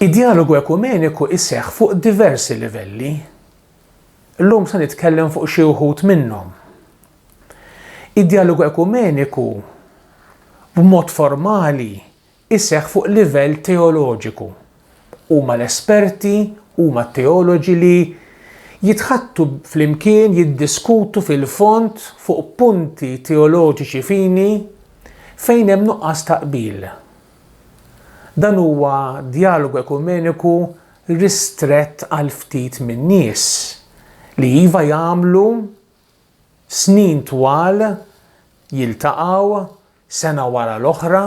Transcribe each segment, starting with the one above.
Id-djalogu ekumeniku jseħħ fuq diversi livelli. Illum se nitkellem fuq xi wħud minnhom. Id-djalogu ekumeniku b'mod formali jseħħ fuq livell teoloġiku. Huma l-esperti, huma t-teoloġi li jitħaddtu flimkien jiddiskutu fil-fond fuq punti teoloġiċi fini fejn hemm nuqqas ta' qbil. Dan huwa djalogu ekumeniku ristrett għal ftit min-nies, li iva jagħmlu snin twal jiltaqgħu sena wara l-oħra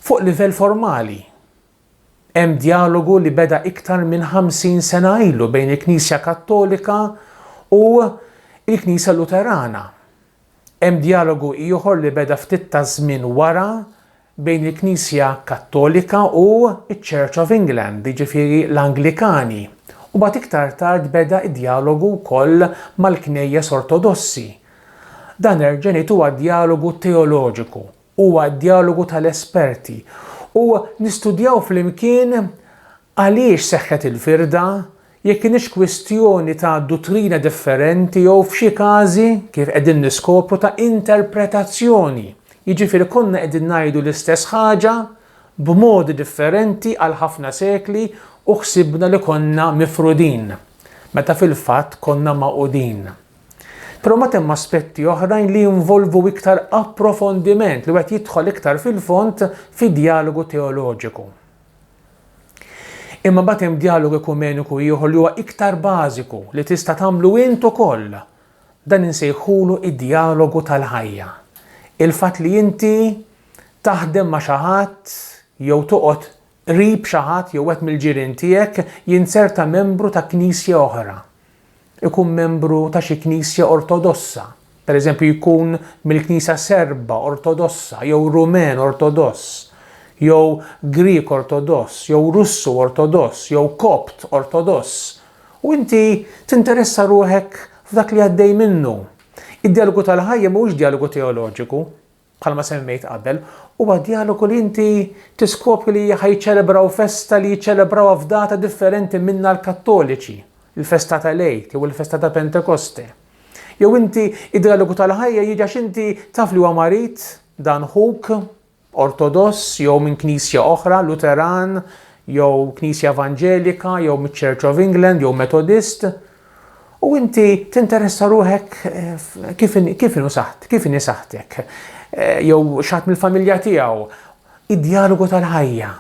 fuq livell formali. Hemm djalogu li beda iktar minn 50 sena ilu bejn il-Knisja Kattolika u l-Knisja Luterana. Hemm djalogu ieħor li beda ftit taż-żmien wara bejn il-Knisja Kattolika u ċ-Church of England, jiġifieri l-Anglikani, u mbagħad iktar tard beda d-djalogu wkoll mal-Knejjes Ortodossi. Dan Erġenit huwa djalogu teoloġiku, huwa d-djalogu tal-esperti u nistudjaw flimkien Għaliex seħħet il-firda? Jekk kinitx kwistjoni ta' duttrina differenti jew, f'xi każi, kif qegħdin niskopru, ta' interpretazzjoni, jiġifieri konna qegħdin ngħidu l-istess ħaġa b'modi differenti għal ħafna sekli u ħsibna li konna mifrudin, meta fil-fatt konna magħqudin. Però mbagħad hemm aspetti oħrajn li jinvolvu iktar approfondiment, li wieħed jidħol iktar fil-fond fi djalogu teoloġiku. Imma mbagħad hemm djalogu ekumeniku ieħor li huwa iktar bażiku li tista' tagħmlu int ukoll. Dan insejħulu d-djalogu tal-ħajja. Il-fatt li inti taħdem ma' xi ħadd jew toqgħod qrib xi ħadd jew wieħed mill-ġirien tiegħek jinzerta membru ta' knisja oħra. ikun membru ta' xi knisja Ortodossa, pereżempju jkun mill-Knisja Serba Ortodossa jew Rumen Ortodoss jew Grieg Ortodoss jew Russu Ortodoss jew Kopt Ortodoss u inti tinteressa ruħek f'dak li għaddej minnu. Id-djalogu tal-ħajja mhuwiex djalogu teoloġiku, bħalma semmejt qabel, huwa djalogu li inti tiskopri li ħa jiċċelebraw festa li jiċċelebrawha f'data differenti minna l-Kattoliċi, il-festa tal-Għid jew il-festa ta' Pentekoste. Jew inti id-djalogu tal-ħajja jiġi għax inti taf li huwa marid, dan ħuk, Ortodoss jew minn knisja oħra, Luteran, jew knisja Evanġelika, jew miċ-Church of England, jew Metodist, U inti tinteressa ruħek kif kif inhu saħt, kif inhi saħtek, jew x'ħadd mill-familja tiegħu, id-djalogu tal-ħajja.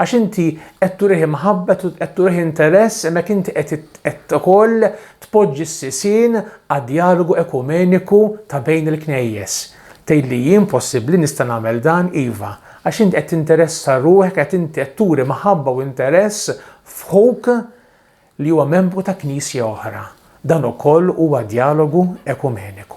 Għax inti qed turih imħabba, qed turih interess, hemmhekk inti qed qed ukoll tpoġġi s-sisien għad-djalogu ekumeniku ta' bejn il-Knejjes. Tgħid li jien possibbli nista' nagħmel dan, iva, għax int qed tinteressa ruħek, qed inti qed turi mħabba u interess f'ħuk li huwa membru ta' Knisja oħra, dan ukoll huwa djalogu ekumeniku.